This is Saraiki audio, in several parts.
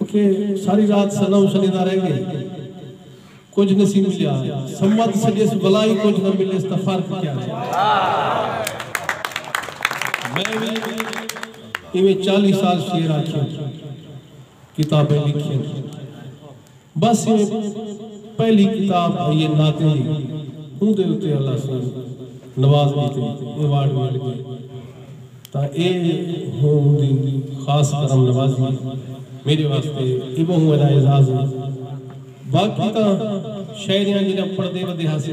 اتے ساری رات سنو سنیدا رہ گئے کجھ نسی ملیا سمت سجیس بلا ہی کجھ نہ ملیس تاں فرق کیا ہے میں وی ایویں چالی سال شعر آکھیاں کتابیں لکھیاں بس ایہ پہلی کتاب ہئی اے ناطے دی اوندے اتے اللہ سوں نوازگی تے ایوارڈ مل گئے تاں ایہ ہوں اوندی خاص کرم نوازی اے میڈے واسطے ایہ بہوں وڈا اعزاز اے باقی تاں شاعریاں جڈاں پڑھدے ودے ہاسے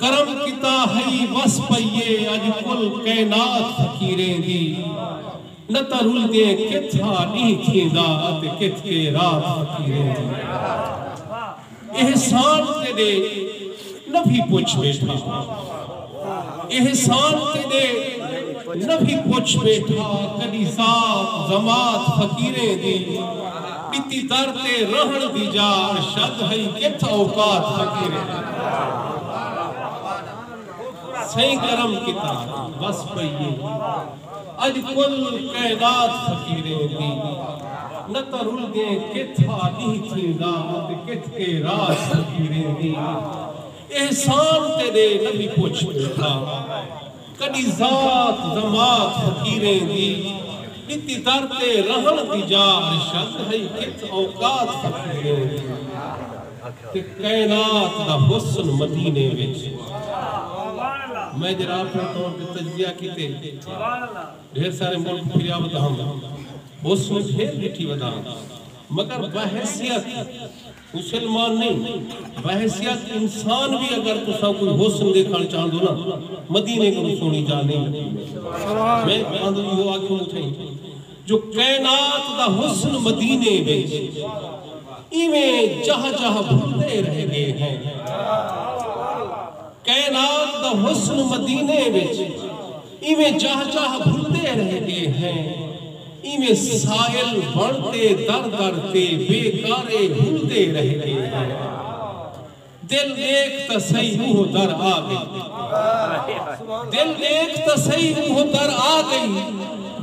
کرم کیتا ہئی وس پئی اے اج کل کائنات فقیریں دی نہ تاں رلدے کتھ ہا ڈینہہ تھیندا اتے کتھ کے رات فقیریں دی احسان تیڈے نبھی پچھ بیٹھا احسان تیڈے نبھی پچھ بیٹھا کڈی ذات ضماعت فقیریں دی۔ ݙتی در تے رہݨ دی جا ارشد ہئی کتھ اوقات فقیریں دی سئیں کرم کیتا وس پئی اے اڄ کل کائنات فقیریں دی نہ تاں رل ڳئے کتھ ہا ݙینہہ تھیندا اتے کتھ کے رات فقیریں دی احسان تیݙے نبی پچھ ٻیٹھا۔ کݙی ذات ضمات فقیریں دی ݙتی در تے رہݨ دی جا ارشد ہئی کت اوقات فقیریں دی تے کائنات دا حسن مدینے وچ میں جیڑھا اپݨے طور تے تجزیہ کیتے ڈھیر سارے ملک پھریا ودا ہم حسن پھر ݙٹھی ودا ہم مگر بحیثیت حسن مان نئیں بحیثیت انسان وی اگر تساں کوئی حسن ڈیکھنڑ چاہندو نا مدینے کنوں سوہنڑی جاہ نئیں لبھدی میں تہاندوں ایہو آکھیوں اٹھئیں جو کائنات دا حسن مدینے وچ ایویں جاہ جاہ بھلدے رہ گئے ہیں کائنات دا حسن مدینے وچ۔ ایویں جاہ جاہ بھلدے رہ گئے ہیں ایویں سائل بݨ تے در در تے بے کارے ہلدے رہ گئے ہیں دل ݙیکھ تاں سہی اوہو در آ ڳئی دل ݙیکھ تاں سہی اوہو در آ ڳئی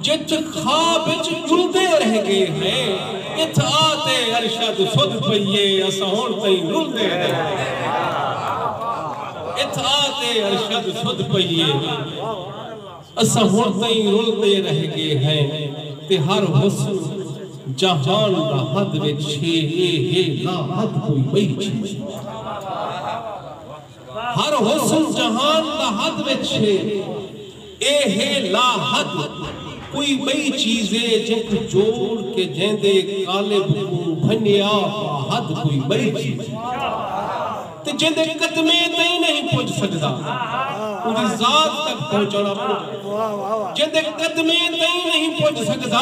جتھ خواب اچ ڄلدے رہ ڳئے ہیں اتھ آ تے ارشد سدھ پئی اے اساں ہݨ تئیں رلدے رہ ڳئے ہیں۔ اتھاں تے ارشد سدھ پئیے اساں ہن تئیں رلدے رہ گئے ہیں تے ہر حسن جہان دا حد وچ چھے اے ہے لا حد کوئی ٻئی چھے ہر حسن جہان دا حد وچ چھے۔ اے ہے لا حد کوئی بئی چیز اے جینکوں جوڑ کے جیندے قالب کوں بھنیا با حد کوئی بئی چیز اے تے جیندے قدمے تئیں نہیں پج سگدا اوندی ذات تک پہنچن اپنجا جیندے قدمے تئیں نہیں پج سگدا۔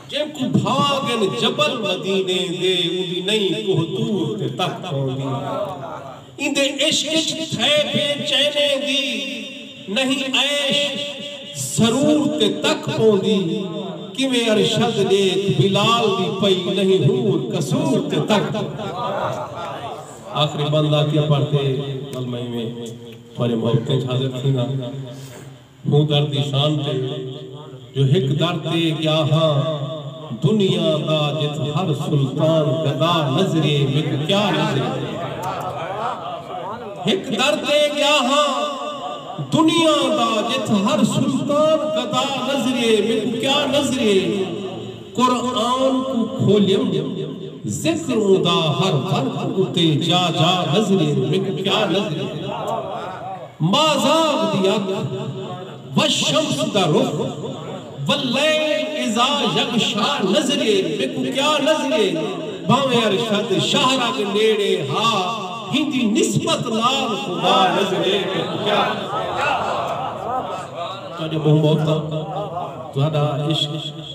جینکوں بھانگ ان جبل مدینے دے اوندی نئیں کوہ طور تے تک پوندی ایندے عشق اچ تھئے بے چینے دی نئیں عیش ضرور تے تک پوندی کیویں ارشد ڈیکھ بلال دی پئی نئیں حور قصور تے تک آخری بند آکھیا پڑھ تے ول میں ایویں تھوڑے محبتیں اچ حاضر تھینداں۔ ہوں در دی شان تے جو ہک در تے گیا ہاں دنیا دا جت ہر سلطان گدا نظریے میک کیا نظریے ہک در تے گیا ہاں دنیا دا جت ہر سلطان گدا نظریے میک کیا نظریے۔ قرآن کوں کھولیوں ذکر اوں دا ہر ورق اتے جا جا نظرے میکوں کیا نظرے مازاغ دی اکھ والشمس دا رخ واللیل اذا یغشی نظرے میکوں کیا نظرے بھانویں ارشد شاہرگ نیڑے ہا ہیندی نسبت نال خدا نظرے میکوں کیا نظرے تہاڈے منہ محبتاں تہاڈا عشق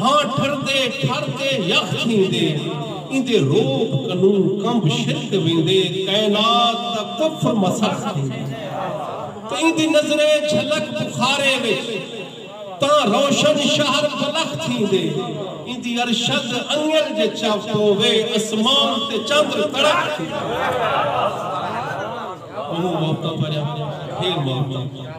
ہاں ٹھردے ٹھر تے یخ تھیندے ایندے روپ کنوں کنب شرک ویندے کائنات دا کفر مسخ تھیندے تے ایندی نظرے جھلک بخارے وچ تاں روشن شہر بلخ تھیندے ایندی ارشد انگل جے چو پووے اسمان تے چندر تڑخ تھیندے۔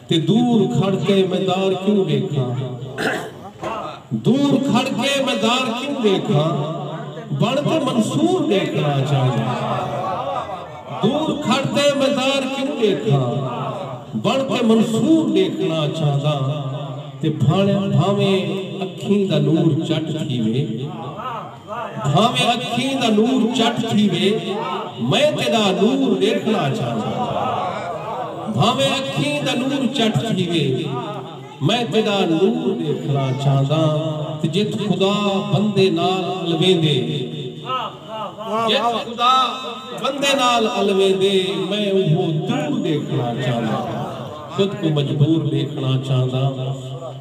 تے دور کھڑ کے میں دار کیوں ڈیکھاں دور کھڑ کے میں دار کیوں ڈیکھاں بن تے منصور ڈیکھنا چاہنداں دور کھڑ کے میں دار کیوں ڈیکھاں بن تے منصور ڈیکھنا چاہنداں تے بھانویں اکھیں دا نور چٹ تھیوے۔ بھانویں اکھیں دا نور چٹ تھیوے میں تیڈا نور ڈیکھنا چاہنداں بھانویں اکھیں دا نور چٹ تھیوے میں تیڈا نور ڈیکھنا چاہنداں تے جت خدا بندے نال الویندے جت خدا بندے نال الویندے میں اوہو دور ڈیکھنا چاہنداں خود کوں مجبور ڈیکھنا چاہنداں۔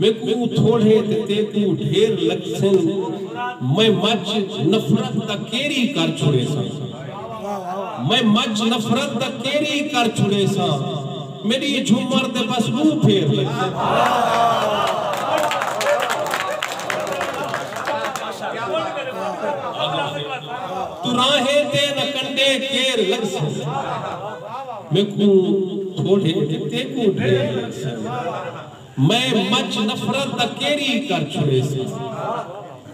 میکوں تھوڑھے تے تیکوں ڈھیر لگسن میں مچ نفرت دا کیری کر چھڑیساں میں مچ نفرت دا کیری کر چھڑیساں میڈی جھمر تے بس ڈو پھیر لگسنتراہیں تے نہ کنڈے کیر لگسن میکوں تھوڑھے تے تیکوں ڈھیر لگسن میں مچ نفرت دا کیری کر چھوڑیساں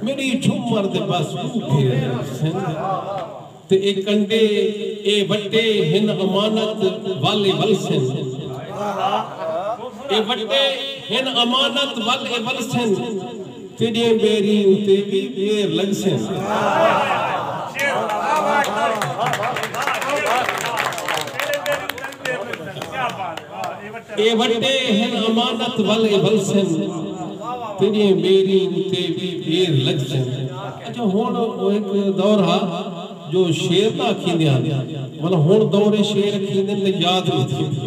میڈی جھمر دے بس ڈو پھیر ہن سندھ تے اے کنڈے اے وٹے ہن امانت ول اے ولسن اے وٹے ہن امانت ول اے ولسن۔ تیڈے میری اتے وی میر لگسن۔ اے وٹے ہن امانت ول اے ولسن۔ تیڈے میری اتے وی میر لگسن۔ اچھا ہن او ہک دور ہا جو شعر نہ اکھیندے ہن منا ہن دور اے شعر اکھیندن تے یاد نی تھیندے۔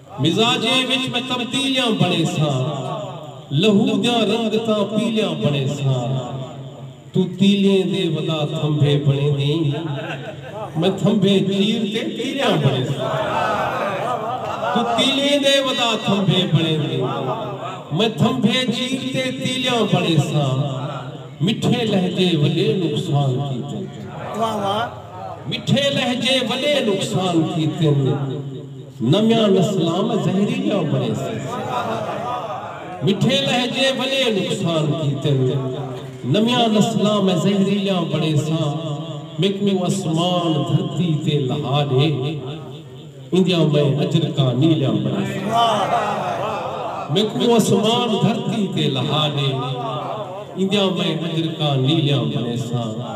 مزاجیں وچ وی تبدیلیاں بݨیساں لہو دیاں رنگتاں پیلیاں بݨیساں توں تیلیں دے ودا تھمبھے بݨیندیں میں تھمبھے چیر تے تیلیاں بݨیساں توں تیلیں دے ودا تھمبھے بݨیندیں میں تھمبھے چیر تے تیلیاں بݨیساں مٹھے لہجے وݙے نقصان کیتن۔ مٹھے لہجے وݙے نقصان کیتن۔ نویاں نسلاں میں زہریلیاں بنڑیسن۔ مٹھے لہجے وڈے نقصان کیتن۔ نویاں نسلاں میں زہریلیاں بنڑیساں۔ میکوں اسمان دھرتی تے لہا ڈے۔ ایندیاں میں اجرکاں نیلیاں بنڑیساں۔ میکوں اسمان دھرتی تے لہا ڈے۔ ایندیاں میں اجرکاں نیلیاں بنڑیساں۔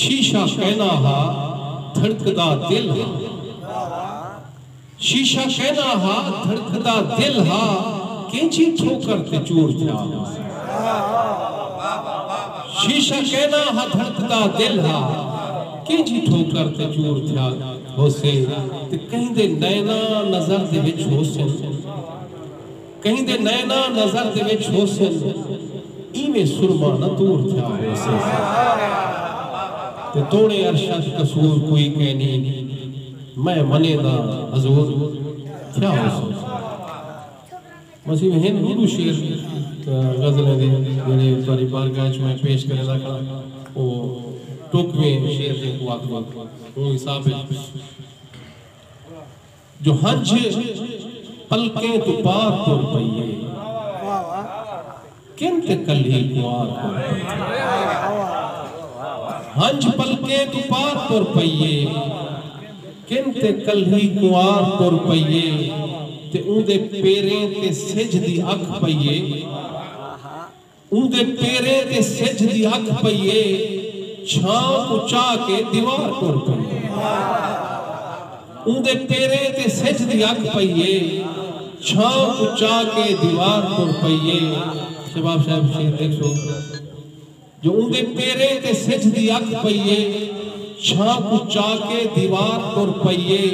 شیشہ کینا ہا دھڑکدا دل ہا۔ شیشہ کینا ہا دھڑکدا دل ہا کینچی ٹھوکر تے چور تھیا ہوسی۔ شیشہ کینا ہا دھڑکدا دل ہا کینچی ٹھوکر تے چور تھیا ہوسی تے کہیں دے نینا نظر دے وچ ہوسن۔ کہیں دے نینا نظر دے وچ ہوسن ایویں سرما نہ تور تھیا ہوسے تے توڑیں ارشد قصور کوئی کینی میں منیں دا حضور تھیا ہوسوں وسیم ہن ڈو ڈو شعر غزلیں دے جیڑھے تہاڈی بارگاہ وچ میں پیش کریندا کھڑاں او ٹوکویں شعر جینکوں آکھدے اوں حساب وچ جو ہنجھ پلکیں توں پار ٹر پئی اے کن تے کلھی کنوار ٹر پئی اے ہنجھ پلکیں توں پار ٹر پئی اے کن تے کلھی کنوار ٹر پئی اے تے اوندے پیریں تے سجھ دی اکھ پئی اے اوندے پیریں تے سجھ دی اکھ پئی اے چھاں کوں چاہ کے دیوار ٹر پئی اے اوندے پیریں تے سجھ دی اکھ پئی اے چھاں کوں چاہ کے دیوار ٹر پئی اے شباب صاحب شعر ڈیکھسو جو اوندے پیریں تے سجھ دی اکھ پئی اے چھاں کوں چاہ کے دیوار ٹر پئی اے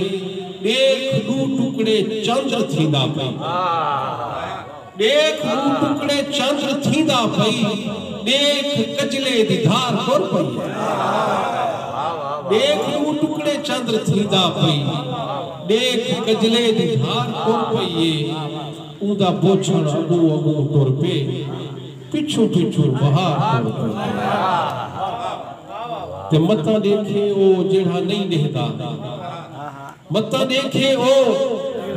ڈیکھ ڈو ٹکڑے چندر تھیندا پئی اے۔ ݙیکھ موں ٹکڑے چند تھیندا پئی ݙیکھ کجلے دی دھار ٹر پئی ہے ݙیکھ موں ٹکڑے چند تھیندا پئی ݙیکھ کجلے دی دھار ٹر پئی ہے اوندا بوچھݨ اڳوں اڳوں ٹر پئے پچھوں پچھوں بہار ٹر پئی ہے تے متاں ݙیکھے او جیڑھا نئیں ݙیہدا۔ متاں ݙیکھے او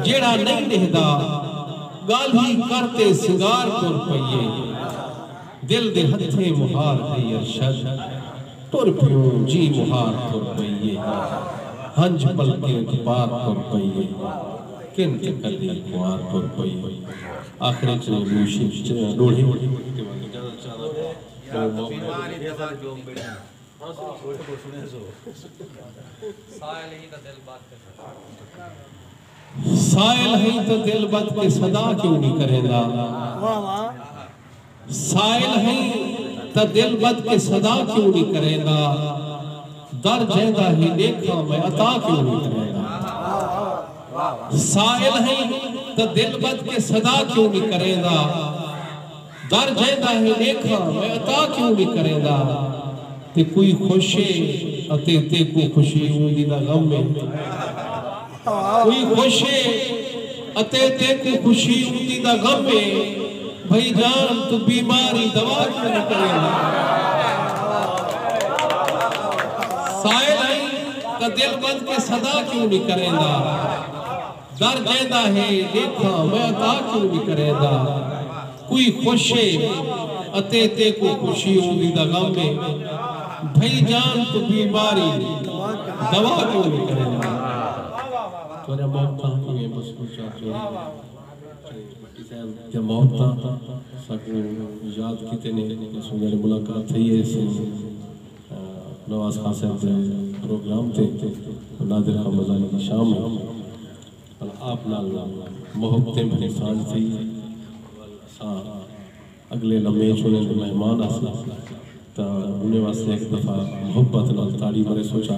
جیڑھا نئیں ݙیہدا ڳالھی کر تے سنگار ٹر پئیے دل دے ہتھیں مہار ݙئی ارشد ٹر پیوں جی مہار ٹر پئیے ہنج پلکیں تے پار ٹر پئیے کن تے کلی کنوار ٹر پئیے آخر اچ او روشیں ݙوڑھے سائل ہئی تاں دل بد کے صدا کیوں نہیں کریں دا سائل ہئی تاں دل بد کے صدا کیوں نہیں کریں دا در جیندہ ہی دیکھا میں عطا کیوں نہیں کریں دا سائل ہئی تاں دل بد کے صدا کیوں نہیں کریں دا در جیندا ہے ݙیکھاں میں عطا کیوں نی کریندا تے کوئی خوش ہے اتے تیکوں خوشی اوندی دا غم ہے کوئی خوش ہے اتے تیکوں خوشی اوندی دا غم ہے بھئی جان توں بیماری دوا کیوں نی کریندا سائل ہیں تاں دل ودھ کے صدا کیوں نی کریندا۔ در جیندا ہے ݙیکھاں میں عطا کیوں نی کریندا کوئی خوش ہے اتے تیکوں خوشی ہوندی دا غم ہے بھئی جان توں بیماری دوا کیوں نی کریندا۔ نواز خان صاحب دے پروگرام تے نادر خان مزاری دی شام ہی ول آپ نال محبتیں بھری سانجھ تھئی ول اساں اگلے لمحے اچ انہیں دے مہمان آساں تاں انہیں واسطے ہک دفعہ محبت نال تاڑی مریسوں چا۔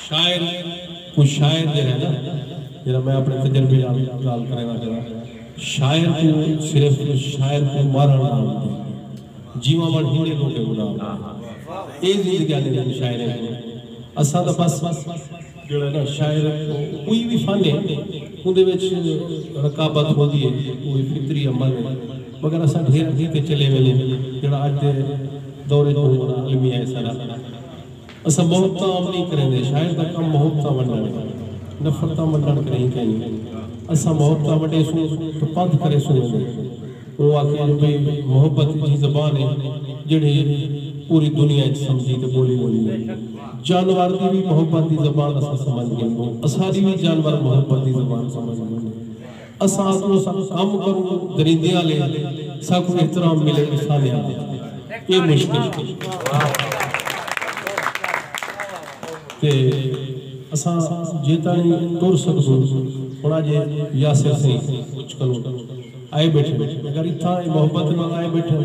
شاعر کوئی شاعر جیڑھا ہے نا جیڑھا میں اپنے تجربے نال گال کرینداں کراں۔ شاعر کوں صرف شاعر کوں مارݨ نہ آندے جیواں وݨ ہیندے لوکیں کوں نہ آندے اے زندگیاں نے ہن شاعریں کوں اساں تاں بس جیڑھا نا شاعر کوئی وی فن ہے اوندے وچ رکابت ہوندی ہے او وی فطری عمل ہے مگر اساں ڈھیر اگھی تے چلے ویندوں جیڑھا اج دے دور وچ بہوں وݙا المیہ ہے ساݙا۔ اساں محب تاں عام نئیں کریندے، شاعر دا کم محب تاں ونڈݨ ہے، نفرتاں ونڈݨ کݙاہیں کائنی۔ اساں محب تاں ونڈیسوں تاں پدھ کریسوں ویندے۔ اوں آکھیے جو بھئی محبت ایجھی زبان ہے جیڑھی پوری دنیا اچ سمجھی تے ٻولی ویندی ہے۔ جانور دی وی محبت دی زبان اساں سمجھ گھندوں، اساݙی وی جانور محبت دی زبان سمجھ گھندے۔ اساں اکوں سا کم کروں دریندے آلے ساکوں احترام ملے اخانے آلے اے مشکل تے اساں جیتانی ٹر سکدوں ہن اج یاسر سئیں مچ کنوں آئے بیٹھن اگر اتھاں اے محبت نال آئے بیٹھن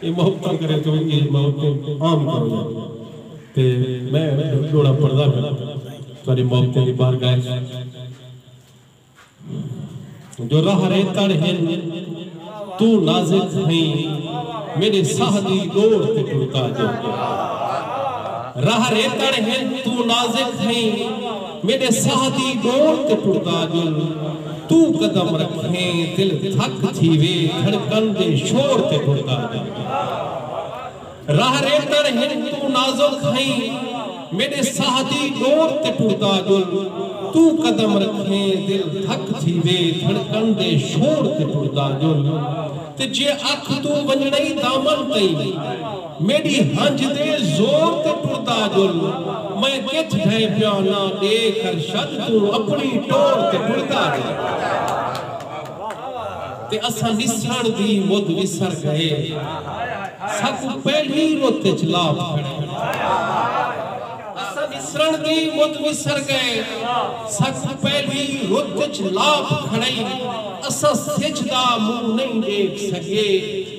اے محبتاں کرے توں اے موت توں عام کرو یا تے میں ڈھک ڈوڑا پڑھدا پیا تہاڈی محبتیں دی بارگاہ اچ جو راہ رے تڑ ہن توں نازک ہئیں میڈے ساہ دی ڈوڑ تے ٹردا جو راہ رے تڑ ہن توں نازک ہئیں میݙے ساہ دی ݙوڑ تے ٹردا ڄل توں قدم رکھیں دل دھک تھیوے دھڑکن دے شور تے ٹردا ڄل راہ ریتݨ ہن توں نازک ہئیں میݙے ساہ دی ݙوڑ تے ٹردا ڄل توں قدم رکھیں دل دھک تھیوے دھڑکن دے شور تے ٹردا ڄل تے جے اکھ توں ونڄݨئیں دامن تئیں میݙی ہنجھ دے زور تے ٹردا ڄل میں کتھ ڈھئیں پیاں نا ݙیکھ ارشد توں اپݨی ٹور تے ٹردا ڄل تے اساں ݙسݨ دی مدھ وسر ڳئے ساکوں پہلی رت اچ لات کھڑے اساں ݙسݨ دی مدھ وسر ڳئے ساکوں پہلی رت اچ لات کھڑے اساں سجھ دا منہ نئیں ݙیکھ سڳے۔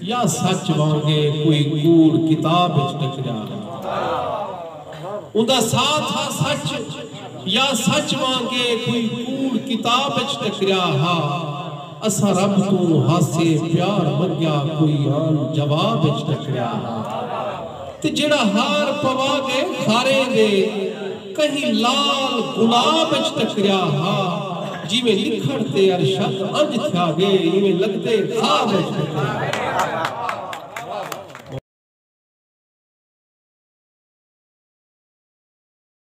یا سچ وانگے کوئی کوڑ کتاب وچ ٹکریا ہا۔ اوندا ساتھ ہا سچ یا سچ وانگے کوئی کوڑ کتاب وچ ٹکریا ہا۔ اساں رب توں ہاسے پیار منگیا کوئی آن جواب وچ ٹکریا ہا۔ تے جیڑھا ہار پوا گئے کھاریں دے۔ کہیں لال گلاب اچ ٹکریا ہا جیویں لکھݨ تے ارشد انج تھیا گے ایویں لگدے خواب اچ ٹکریا ہا۔